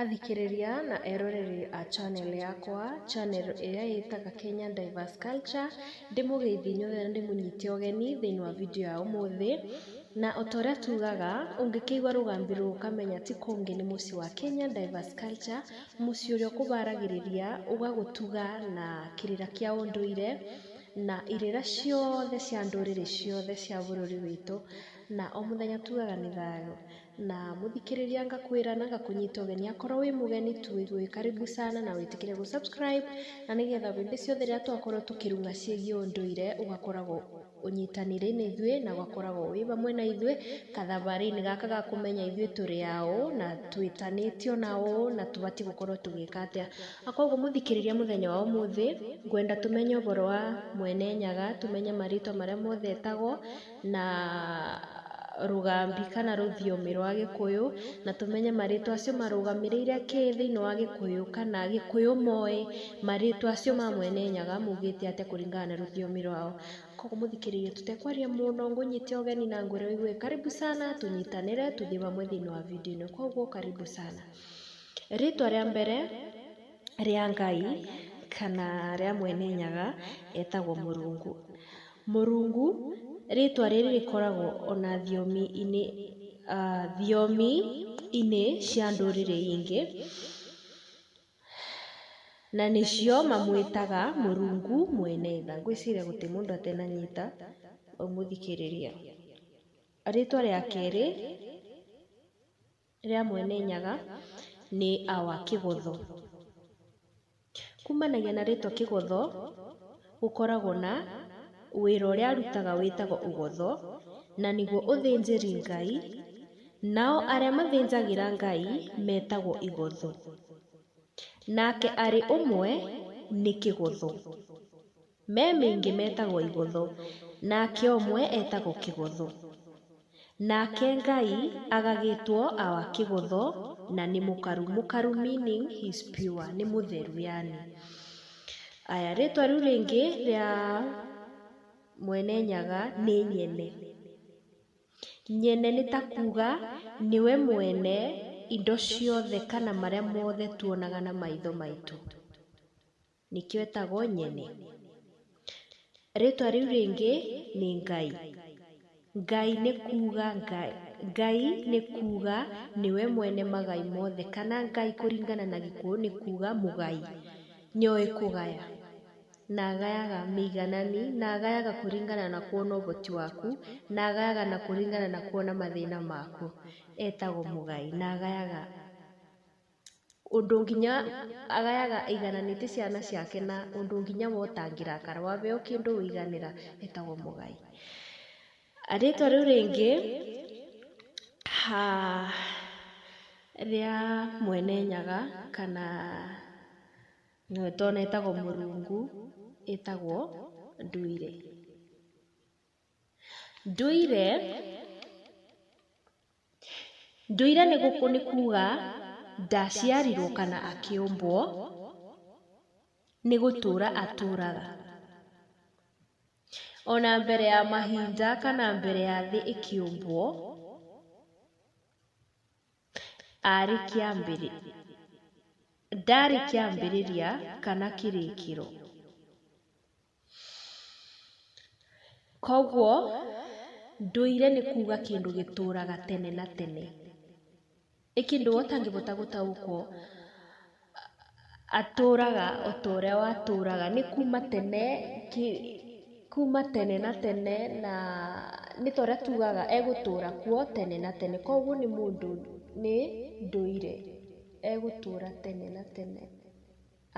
Athikĩrĩria na eroreri a channel yakwa, channel ĩrĩa ĩtaga Kenya Diverse Culture, ndĩmũgeithie inyuothe na ndĩmũnyite ũgeni thĩinĩ wa video ya ũmũthĩ, na ota ũrĩa tugaga, ũngĩkĩigua rũgambi rũrũ ũkamenya ti kũngĩ nĩ mũciĩ wa Kenya Diverse Culture, mũciĩ ũrĩa ũkũharagĩrĩria, ũgagũtuga na kĩrĩra kĩa ũndũire, na irĩra ciothe cia ndũrĩrĩ ciothe cia bũrũri witũ, na o mũthenya tugaga nĩ thayũ. Na mũthikĩrĩria ngakwĩra na ngakũnyita ũgeni akorwo wĩ mũgeni tu wĩgue wĩ karibu sana na wĩtĩkĩre gũ subscribe na nĩgetha hĩndĩ ciothe rĩrĩa twakorwo tũkĩrung'a ciĩgiĩ ũndũire ũgakoragwo ũnyitanĩire na ithuĩ na ũgakoragwo wĩ hamwe na ithuĩ gathabarĩ-inĩ gaka ga kũmenya ithuĩ tũrĩ a ũũ na twĩtanĩtio na ũũ na tũbatiĩ gũkorwo tũgĩka atĩa. Na koguo mũthikĩrĩria mũthenya wa ũmũthĩ ngwenda tũmenye ũboro wa Mwene Nyaga, tũmenye marĩtwa marĩa mothe etagwo. na rũgambi kana rũthiomi rwa gĩkũyũ, na tũmenye marĩtwa acio marũgamĩrĩire kĩĩ thĩinĩ wa gĩkũyũ kana gĩkũyũ moĩ marĩtwa acio ma mwene nyaga maugĩte atĩa kũringana na rũthiomi rwao. Koguo mũthikĩrĩria tũtekwaria mũno ngũnyite ũgeni na ngwĩre ũigue karibu sana tũnyitanĩre tũthiĩ hamwe thĩinĩ wa video ĩno koguo karibu sana. Rĩtwa rĩa mbere. rĩa Ngai kana rĩa Mwene Nyaga etagwo Mũrungu. Mũrungu rĩtwa rĩrĩ rĩkoragwo ona thiomi-inĩ thiomi-inĩ cia ndũrĩrĩ ingĩ, na nĩcio mamwĩtaga Mũrungu Mwene Tha. Ngwĩciria gũtirĩ mũndũ atananyita ũmũthikĩrĩria. Rĩtwa rĩa kerĩ... rĩa Mwene Nyaga nĩ our Kĩgotho. Kumanagia na rĩtwa Kĩgotho, gũkoragwo na wĩra ũrĩa arutaga wĩtagwo ũgotho, na nĩguo ũthĩnjĩri Ngai, nao arĩa mathĩnjagĩra Ngai metagwo igotho. Nake arĩ ũmwe nĩ Kĩgotho. Me mĩingĩ metagwo Igotho, nake ũmwe etagwo Kĩgotho. Nake Ngai agagĩtwo our Kĩgotho na nĩ mũkaru. Mũkaru meaning he is pure, nĩ mũtheru yaani. Aya, rĩtwa rĩu rĩngĩ rĩa Mwene Nyaga nĩ Nyene. Nyene nĩ ta kuuga nĩwe mwene indo ciothe kana marĩa mothe tuonaga na maitho maitũ. Nĩkĩo etagwo Nyene. Rĩtwa rĩu rĩngĩ nĩ Ngai. Ngai nĩ kuuga Ngai nĩ kuuga nĩwe mwene magai mothe kana Ngai kũringana na Gĩkũyũ nĩ kuuga mũgai, nĩoĩ kũgaya na agayaga mĩiganani na agayaga kũringana na kuona ũhoti waku na agayaga na kũringana na kuona mathĩna maku. Etagwo mũgai na agayaga. ũndũ nginya agayaga aigananĩte ciana ciake na ũndũ nginya we ũtangĩrakara, waheo kĩndũ ũiganĩra etagwo mũgai. Rĩtwa rĩu rĩngĩ rĩa Mwene Nyaga kana nĩwe tũĩ etagwo Mũrungu etagwo Nduire. Ndũire, ndũire nĩ kuga ndaciarirwo kana akĩũmbwo, nĩ gũtũra atũraga. Ona mbere ya mahinda kana mbere ya thĩ ĩkĩũmbwo, arĩ kĩambĩrĩ, ndarĩ kĩambĩrĩria kana kĩrĩkĩro. Koguo ndũire nĩ kuga kĩndũ gĩtũraga tene na tene. Nĩ kĩndũ we ũtangĩhota gũtaũkwo atũraga o ta ũrĩa watũraga. Nĩ kuma tene, kuma tene na tene na nĩ ta ũrĩa tugaga egũtũra kuo tene na tene. Koguo nĩ mũndũ, nĩ ndũire, egũtũra tene na tene.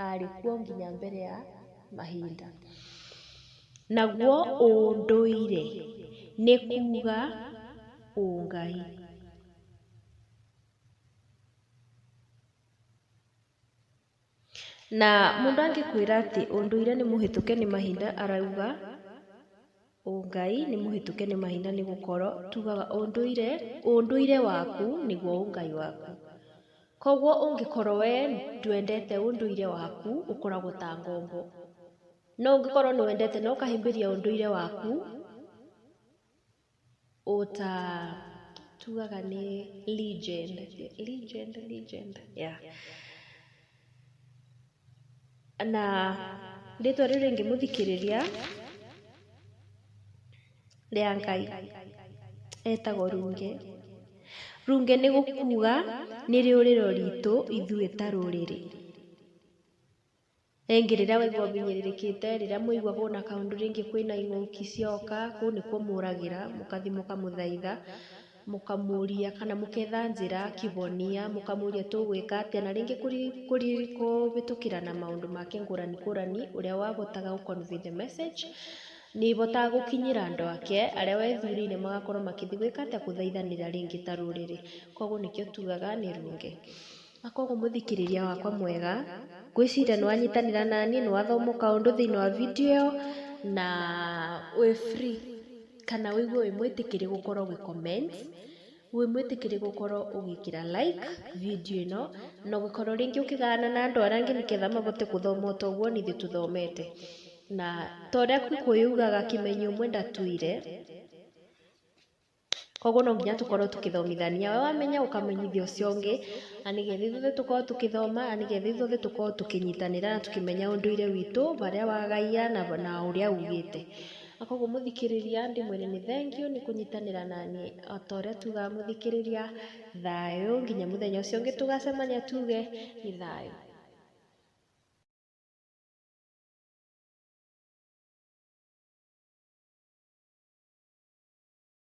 aarĩ kuo nginya mbere ya mahinda. Naguo ũndũire nĩ kuuga ũngai. Na mũndũ angĩkwĩra atĩ ũndũire nĩ mũhĩtũke nĩ mahinda arauga Ũngai nĩ mũhĩtũke nĩ mahinda nĩ gũkorwo tugaga ũndũire, ũndũire waku nĩguo ũngai waku. Koguo ũngĩkorwo we ndwendete ũndũire waku ũkoragwo ta ngombo. No ũngĩkorwo nĩ wendete na ũkahĩmbĩria ũndũire waku, O ta tugaga nĩ legend, legend, legend, yeah. Na rĩtwa rĩu rĩngĩ mũthikĩrĩria rĩa Ngai etagwo Runge. Runge nĩ gũkuga nĩ rĩũrĩro ritũ ithuĩ ta rũrĩrĩ. Rĩngĩ rĩrĩa waigua ũhinyĩrĩrĩkĩte, rĩrĩa mwaigua hũna kaũndũ rĩngĩ kwĩna ing'ũki cioka, kũu nĩkuo mũragĩra, mũgathiĩ mũkamũthaitha, mũkamũria kana mũgetha njĩra, kĩhonia, mũkamũria tũgwĩka atĩa, na rĩngĩ kũhĩtũkĩra na maũndũ make ngũrani ngũrani, ũrĩa wahotaga gũ convey the message, nĩ ĩhotaga gũkinyĩra andũ ake, arĩa wethurĩire magakorwo magĩthiĩ gwĩka atĩa, gũthaithanĩra rĩngĩ ta rũrĩrĩ. Koguo nĩkĩo tugaga nĩ runge. Na kwoguo mũthikĩrĩria wakwa mwega, ngwĩciria nĩ wanyitanĩra na niĩ, nĩ wathoma o kaũndũ thĩinĩ wa video ĩyo, na wĩ free kana wĩigue wĩ mwĩtĩkĩrie gũkorwo ũgĩ comment, wĩ mwĩtĩkĩrie gũkorwo ũgĩkĩra like video ĩno, na ũngĩkorwo rĩngĩ ũkĩgayana na andũ arĩa angĩ nĩgetha mahote gũthoma o ta ũguo ona ithuĩ tũthomete. Na ta ũrĩa Gĩkũyũ yugaga kĩmenyi ũmwe ndatũire. Koguo no nginya tũkorwo tũkĩthomithania, we wamenya ũkamenyithia ũcio ũngĩ, na nĩgetha ithuothe tũkorwo tũkĩthoma, na nĩgetha ithuothe tũkorwo tũkĩnyitanĩra na tũkĩmenya ũndũire witũ, harĩa wagaiga na na ũrĩa ugĩte. Na koguo mũthikĩrĩria ndĩmwĩre nĩ thengiũ nĩ kũnyitanĩra na niĩ. O ta ũrĩa tugaga mũthikĩrĩria, thayũ, nginya mũthenya ũcio ũngĩ tũgacemania tuge nĩ thayũ.